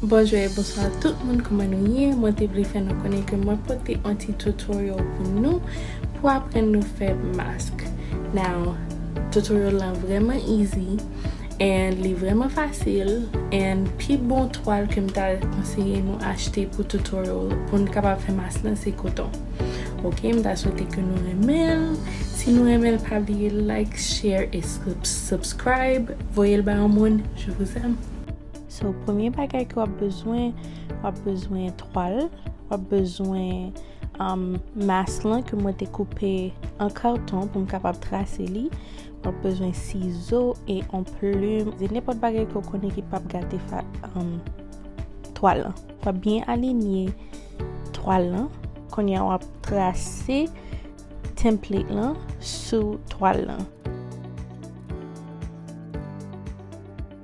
Bonjou e bonswa tout moun kouman nou ye mwen te vle fè nou konnen ke mwen pote on ti tutorial pou nou pou aprann nou fè mask now tutorial lan vreman easy and li vreman fasil and pi bon twal kem ta konseye nou achte pou tutorial pou nou kapab fè mask lan se koton ok m ta swete ke nou renmenl si nou renmenl pa bliye like share e subscribe voyel ba yon moun je vous aime. So premye bagay ke w ap bezwen, w ap bezwen twal, w ap bezwen um, mas lan ke mwen te koupe an karton pou m kapab trase li, w ap bezwen sizo e on plum, e nenpòt bagay ke w konnen ki pap gate fa, um, twal lan. W ap byen alinye twal lan. Kounye a w ap trase template lan sou twal lan.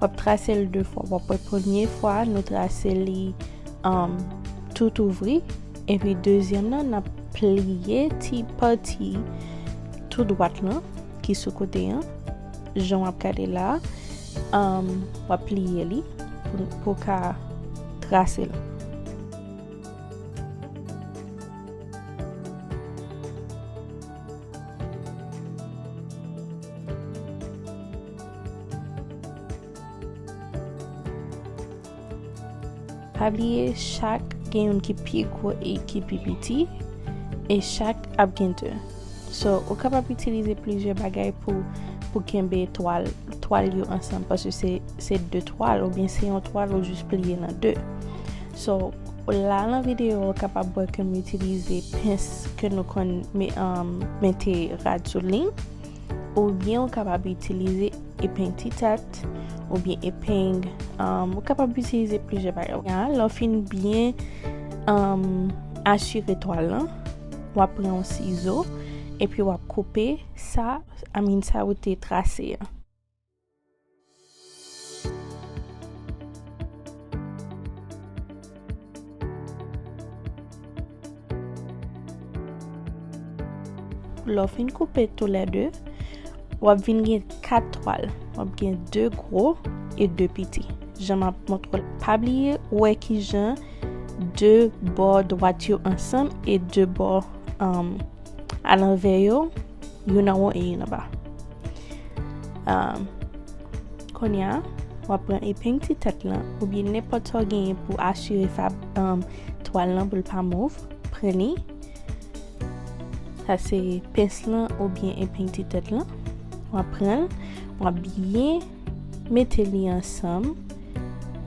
Wap trase l 2 fwa. Wap wè premye fwa nou trase li um, tout ouvri. Epi dezyèm nan nap pliye ti pati tou dwat lan ki sou kote an. Jan wap gade la. Um, wap pliye li pou, pou ka trase l. Pa bliye chak gen yon ki pi gwo e ki pi piti e chak ap gen 2. So, ou kapab itilize plizyè bagay pou pou kenbe twal twal yo ansanm paske se se 2 twal oubyen se yon twal ou jis pliye nan 2. So la lan video ou kapab wè ke m itilize pens ke nou konn mete rad sou li, oubyen ou kapab itilize epeng ti tat, oubyen epeng, ou kapab itilize plizyè bagay. Ya, lè w fin byen asire twal lan, w ap pran yon sizo, epi w ap koupe sa, I mean sa ou te trase an. Lè w fin koupe tou lè 2, w ap vin gen 4 twal. W ap gen 2 gwo e 2 piti. Jan m ap montre l. Pa bliye wè ki jan 2 bò dwat yo ansanm e 2 bò anm. A lanvè yo, youn anwo e youn anba. Um, konya, wap pran epeng ti tèt lan, ou byen nenpòt sa w genyen pou asire fab um, twal lan pou l pa mouv, pran li. Sa se pens lan ou byen epeng ti tèt lan. Wap pran l, wap byen mete li ansanm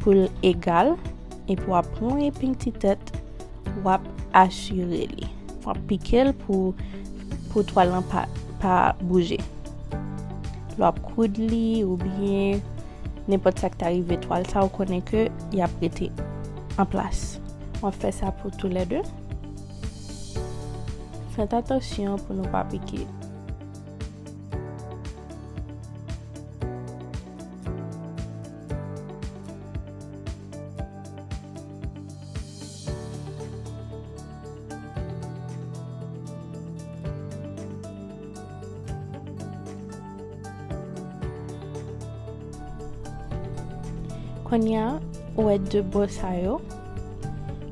pou l egal. Epi wap pran epeng ti tèt. wap asire li. Wap pike l pou pou twal lan pa pa bouje. Lè wap koud li ou byen nenpòt sa k ta rive twal sa ou konnen ke y ap rete an plas. Wap fè sa pou tou lè de. Fèt atansyon pou nou pa pike. Konya ou wè de bò sa yo,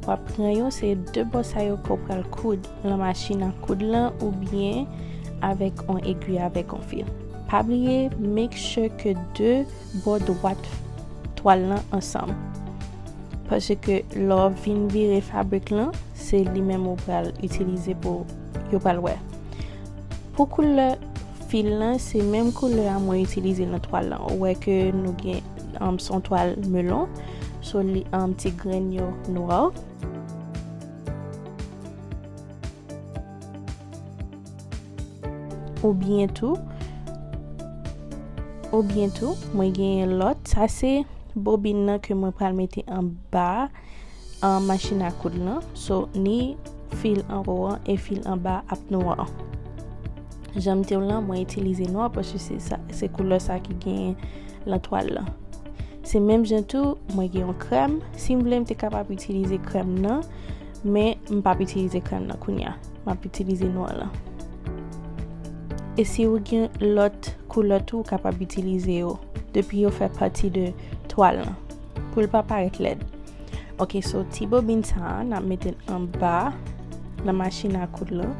wap pran yo se de bò sa yo ko pral koud lan machin an koud lan ou byen avèk on egwi avèk on fil. Pa bliye make sure ke de bò dwat twal lan ansanm paske lè w ap vin vire fabrik lan se li menm ou pral itilize pou yo pral wè pou koulè fil lan se menm koulè a mwen itilize nan twal lan ou wè ke nou gen um, son twal melon so li um, ti grenn yo nwa. Ou byen tou, ou byen tou, mwen genyen lòt. Sa se bobin nan ke mwen pral mete an ba an machin a koud lan. So, ni fil an ro an e fil an ba ap nou an. Janm te w lan, mwen itilize nou an pwosye se sa, se koulò sa ki genyen lan twal lan. Se menm jen tou, mwen genyon krèm. Si m vle, m te kapab itilize krèm nan. Men, m pap itilize krèm nan kounya. M ap itilize nwa lan. E si ou gen lòt koulè tou, ou kapab itilize yo. Depi yo fè pati de twal lan. Pou l pa parèt lèd. Ok, so ti bobin sa a, n ap mete l anba nan machin a koud lan.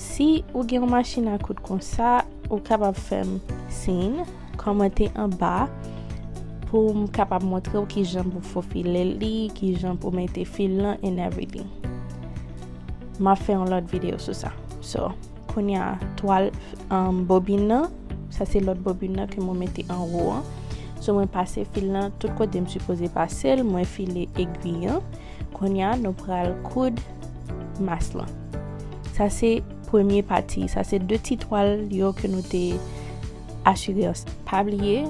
Si ou gen yon machin a koud konsa, ou kapab fè m siyn. Kòmante anba pou m kapab montre w kijan pou fofile li, kijan pou mete fil lan and everything. M ap fè yon lòt videyo sou sa. So, kounye a, twal um, bobin nan, sa se lòt bobin nan ke mwen mete anwo an. So, mwen pase fil lan tout kote m sipoze pase l, mwen file egwi an. Kounye a, nou pral koud mas lan. Sa se premye pati, sa se de ti twal yo ke nou te Asirans pa bliye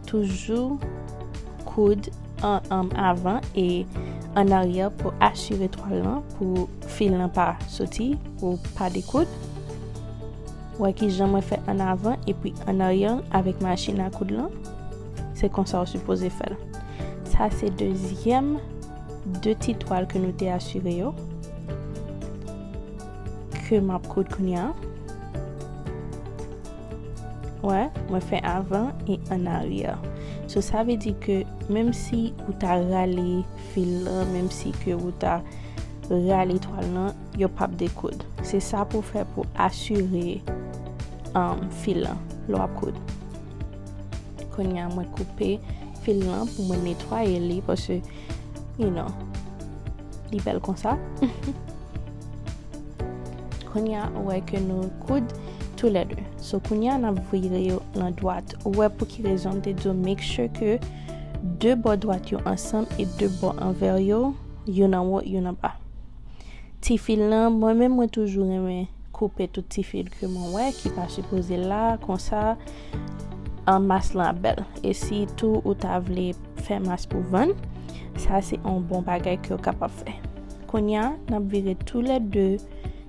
toujou koud an avan e an aryè pou asire twal lan pou fil lan pa soti pou pa dekoud. Wè ki jan mwen fè an avan epi an aryè avèk machin a koud lan. Se konsa ou sipoze fè l. Sa se dezyèm de ti twal ke nou te asire yo. Ke map koud kounya. Wè, mwen fè avan e an aryè. So sa vle di ke menm si ou ta rale fil lan, menm si ke ou ta rale twal lan, yo pap dekoud. Se sa pou fè pou asire um, fil lan lè wap koud. Kounya mwen koupe fil lan pou mwen netwaye li, pase, you know, li bèl konsa. Kounya ou wè ke nou koud tou lè 2. So kounya nap vire yo lan dwat. Ou wè pou ki rezon m te di w make sure ke 2 bò dwat yo ansanm e 2 bò anvè yo, youn anwo, youn anba. Ti fil lan, mwen menm mwen toujou renmen koupe tout ti fil ke mwen wè ki pa sipoze la, konsa an mas lan ap bèl. E si tou ou ta vle fè mas pou vann, sa se on bon bagay ke ou kapab fè. Kounya nap vire tou lè 2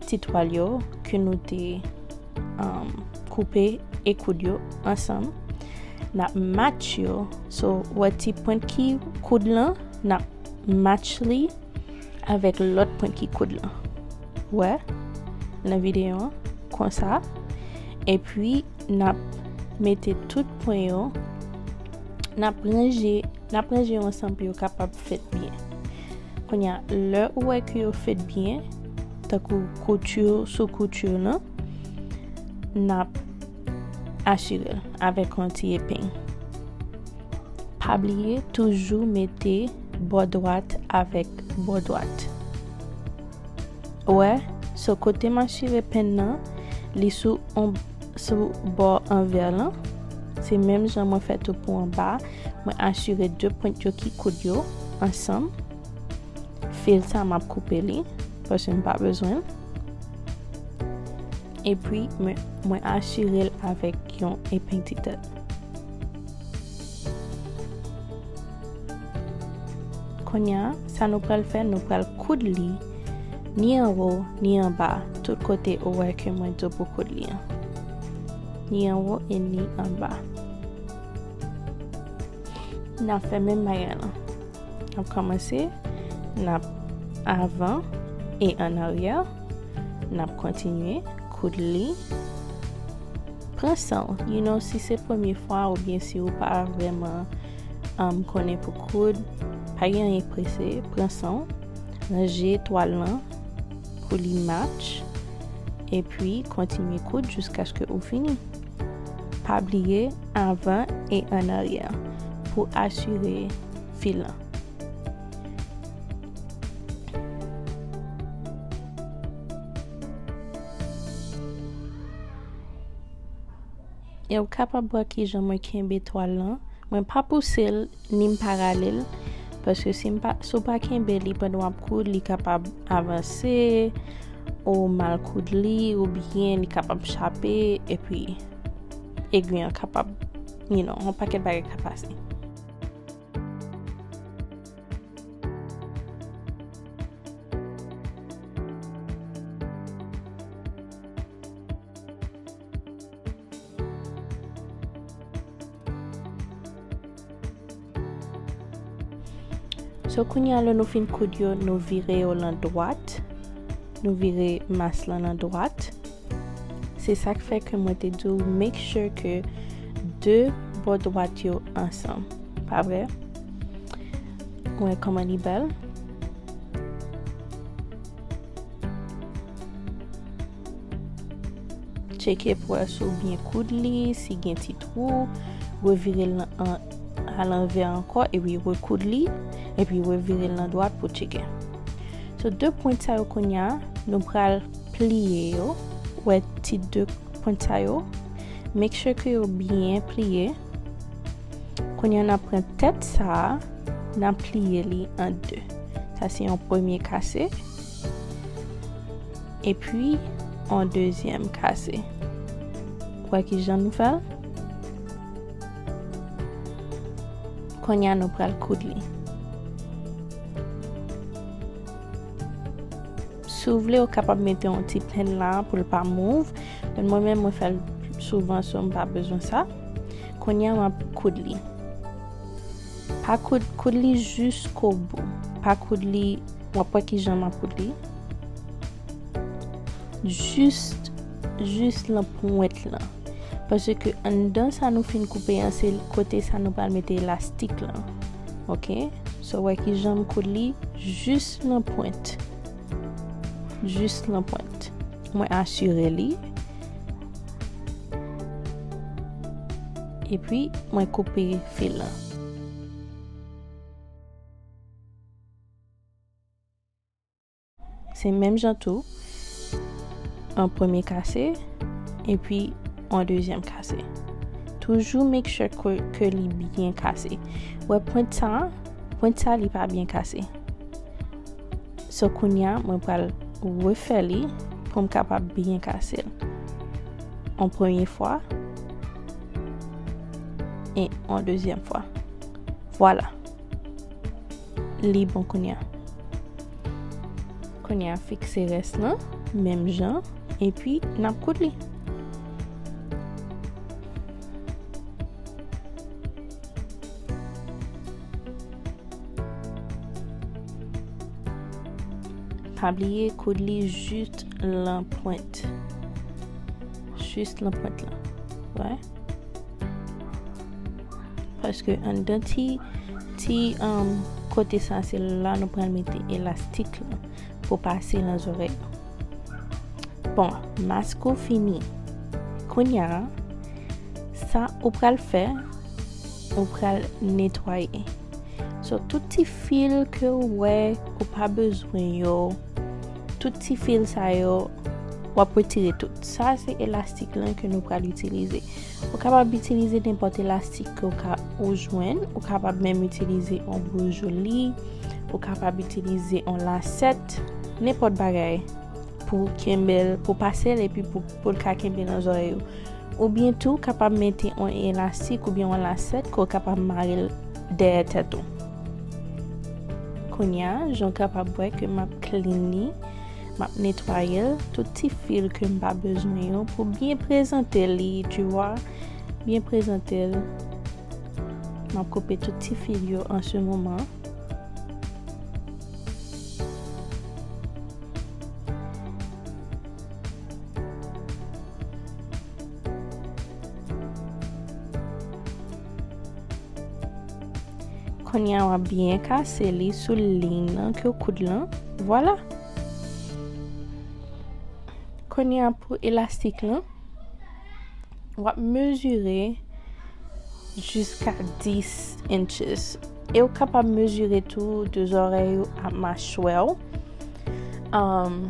ti twal yo ke nou te um, koupe e koud yo ansanm. Nap match yo. So, wè ti pwent ki koud lan, nap match li avèk lòt pwent ki koud lan. Wè, nan videyo an, konsa. E pwi, nap mete tout pwen yo, nap ranje, nap ranje yo ansanm pou yo kapab fèt byen. Kounya lè ou wè ke yo fèt byen, tankou koutur sou koutur lan, nap asirel avèk yon ti epeng. Pa bliye toujou mete bò dwat avèk bò dwat. Wè, so kote m asire pen nan, li sou on sou bò anvè lan se menm jan mwen fè tou pou anba mwen asire 2 pwent yo ki koud yo ansanm fil sa map koupe li paske m pa bezwen l epi mwen asire l avèk yon epeng ti tèt konya sa nou pral fè nou pral koud li Ni anwo, ni anba, tout kote ou wè ke mwen do pou koud li an. Ni anwo e ni anba. N ap fè menm bagay lan. N ap kòmanse, n ap avan e an aryè. N ap kontinye koud li. Pran san ou, you know, si se premye fwa ou byen si ou pa vreman konnen pou koud, pa gen anyen prese, pran san ou. Ranje twal lan pou li match epi kontinye koud jiskaske ou fini. Pa bliye avan e an aryè pou asire fil lan. Ew kapab wè kijan mwen kenbe twal lan, mwen pa pousel ni m pa ralel paske si w pa kenbe li pandan wap koud li kapab avanse ou mal koud li oubyen li kapab chape epi egwi an kapab you know yon pakèt bagay ka pase. So kounye a lè nou fin koud yo, nou vire yo lan dwat. Nou vire mas lan lan dwat. Se sa k fè ke mwen te di ou make sure ke de bò dwat yo ansanm. Pa vre? Mwen koman li bèl. Tcheke pou as ou byen koud li, si gen ti twou, revire l a lanvè ankò epi rekoud li, epi revire l nan dwat pou tcheke. So, de pwent sa yo konya, nou pral pliye yo, wè ti de pwent sa yo, make sure ke yo byen pliye. Kounya nap pran tèt sa a nap pliye li an 2 sa se yon premye kase epi yon dezyèm kase ou wè kijan nou fèl kounya nou pral koud li si w vle ou kapab mete yon ti pèn la pou l pa mouv men mwen menm mwen fèl souvan so m pa bezwen sa. Kounya map koud li. Pa koud koud li jusko bou. Pa koud li wap wè kijan map koud li. Juste jus lan pwent lan. Pase ke anndan sa nou fin koupe an se kote sa nou pral mete elastik lan. Ok. So wè kijan m koud li jus lan pwent. jis nan pwent mwen asire li epi mwen koupe fil la se menm jan tou an premye kase epi an dezyèm kase toujou make sure ke li byen kase wè pwent sa pwent sa li pa byen kase. So kounya mwen pral refè li pou m kapab byen kase l. On premye fwa. E on dezyèm fwa. Vwala. Li bon kounya. Kounya fikse res lan. Menm jan. E pi nap koud li. Pa bliye koud li jist lan pwent. Jist lan pwent lan. Wè. Paske an dan ti, ti um, kote sa se la nou pral mete elastik la pou pase lan zorèy. Bon, mask ou fini. Kounya, sa ou pral fè, ou pral netwaye. So, tout ti fil ke ou wè, ou pa bezwen yo, tout ti fil sa yo, wap retire tout. Sa se elastik lan ke nou pral itilize. Ou kapab itilize nenpòt elastik ke ou ka ou jwenn, ou kapab menm itilize yon boujoli, ou kapab itilize yon lasèt, Nenpòt bagay pou kenbel pou pasel epi pou poul ka kenbe nan zòrèy ou. Ou byen tou kapab mete on elastik ou byen on lasèt ke w kapab marel dèyè tèt ou. Kounya jan w kapab wè ke map clean li, map netwayel, tout ti fil ke m pa bezwen yo pou byen prezante li tu vwa, byen prezantel. Map koupe tout ti fil yo an se moman. Konya w ap byen kase li sou liy nan ke w koud lan. Vwala. Konya pou elastik lan. W ap mezire jiska 10 inches. E ou kapab mezire tou de zorèy ou ak machwè ou. Um,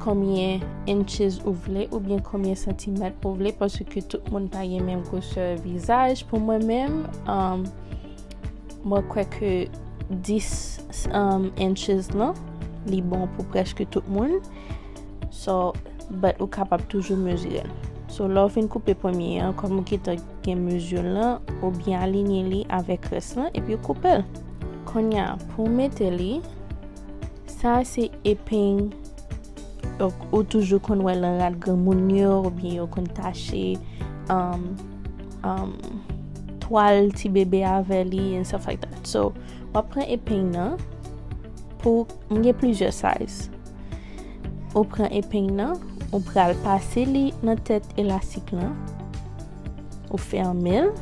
konbyen inches ou vle ou byen konbyen santimèt ou vle paske tout moun pa gen menm gwosè vizaj pou mwen menm um, mwen kwè ke 10 um, inches lan li bon pou preske tout moun So, but ou kapab toujou mezire l. So, lè w fin koupe premye an, kòm ou gentan gen mezire l lan, ou byen alinye li avèk rès lan, epi ou koupe l. Konnya, pou w mete li, sa a se epeng ou toujou konn wè lan rad granmoun yo, oubyen yo konn tache um, um, twal ti bebe avè li, and stuff like that. So, wap pran epeng nan, pou, m gen plizyè size. Ou pran epeng nan, ou pral pase li nan tèt elastik lan. Ou fèmen l.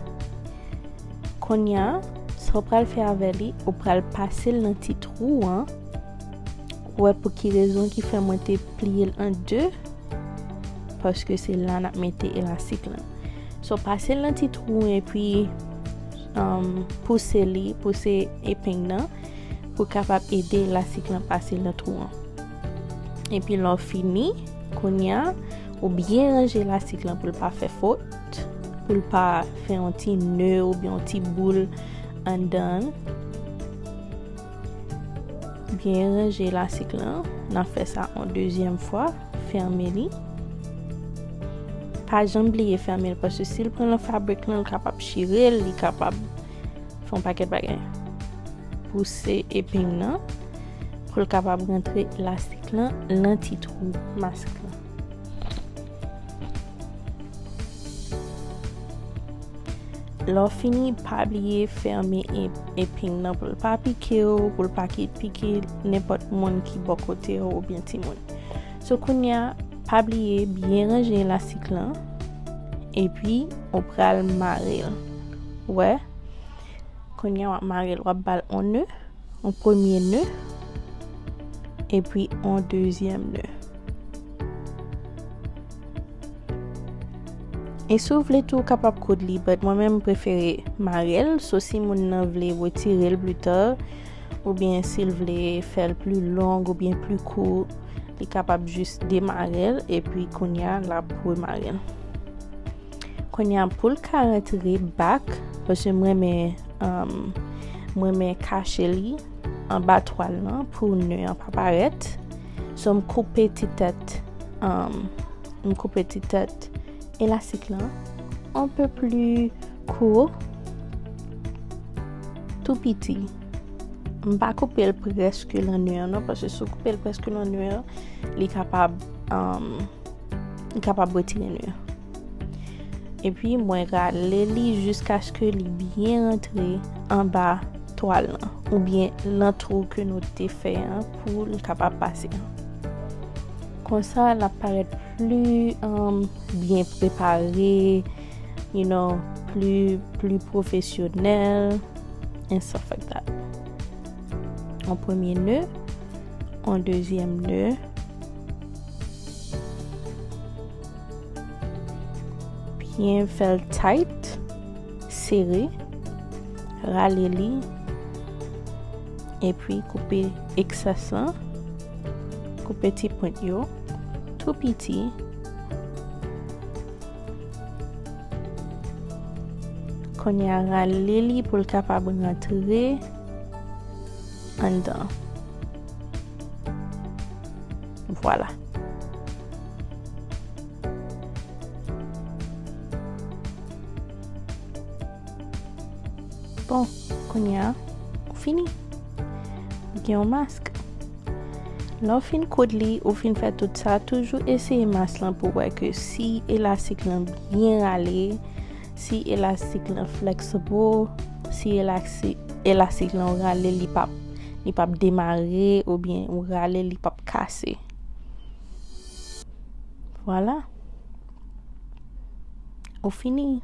Konya, sa ou pral fè avè li, ou pral pase l nan ti trou an. Ou wè pou ki rezon ki fè mwen te pliye l an 2? Paske se la n ap mete elastik lan. So, pase l nan ti trou an epi pouse li, pouse epeng nan. pou kapab ede elastik lan pase nan twou an. Epi lò fini, kounya ou byen ranje elastik lan pou l pa fè fot, pou l pa fè yon ti nè ou byen yon ti boul andan. Byen ranje elastik lan, nan fè sa an dezyèm fwa, fèmen li. Pa janm bliye fèmen l, paske si l pran nan fabrik lan, l kapab chire l, li kapab. Fon paket bagay. Pouse eping nan pou l kapab rentre elastik lan nan ti twou mask lan. Lè w fini, pa bliye fèmen eping nan pou l pa pike w, pou l pa ki pike nenpòt moun ki bò kote w oubyen timoun. Sou kounya, pa bliye byen ranje elastik lan, epi ou pral mare l. Wè, kounye wap marel, wap bal on nœud, on premye nœud, epi on dezyèm nœud. E si w vle tou, w kapab koud li, but mwen menm m prefere marel, so si moun nan vle retirel plus tard, ou byen si l vle fèl plus long ou byen plus court, li kapab jis demarel epi kounya lap remarel. Konya poul ka rantre bak paske mwen men um, mwen men kache li an ba twal nan pou ne an pa paret. So m koupe ti tet um, m koupe ti tet elastik lan un peu plus court tout piti. M pa koupe l preske lan ne an non paske si w koupe l preske lan ne an li kapab um, M kapab retire nou yo. Epi mwen rale li jiskaske li byen rantre anba twal lan. Ou byen lan twou ke nou te fè an pou li kapab pase. Konsa la paret pli um, byen prepare, you know, pli profesyonel, and stuff like that. An premye neu, an dezyem neu. Byen fèl tight, sere, rale li, epi koupe eksas lan, koupe ti pwent yo, tou piti, konya rale li pou l kapab rantre, anndan vwala. Bon kounye a ou fini ou gen yon mask lè ou fin koud li ou fin fè tout sa toujou eseye mask lan pou wè ke si elastik lan byen rale Si elastik lan flexible, si elastik lan ou rale li pap li pap demare ou byen ou rale li pap kase. Voilà. Ou fini.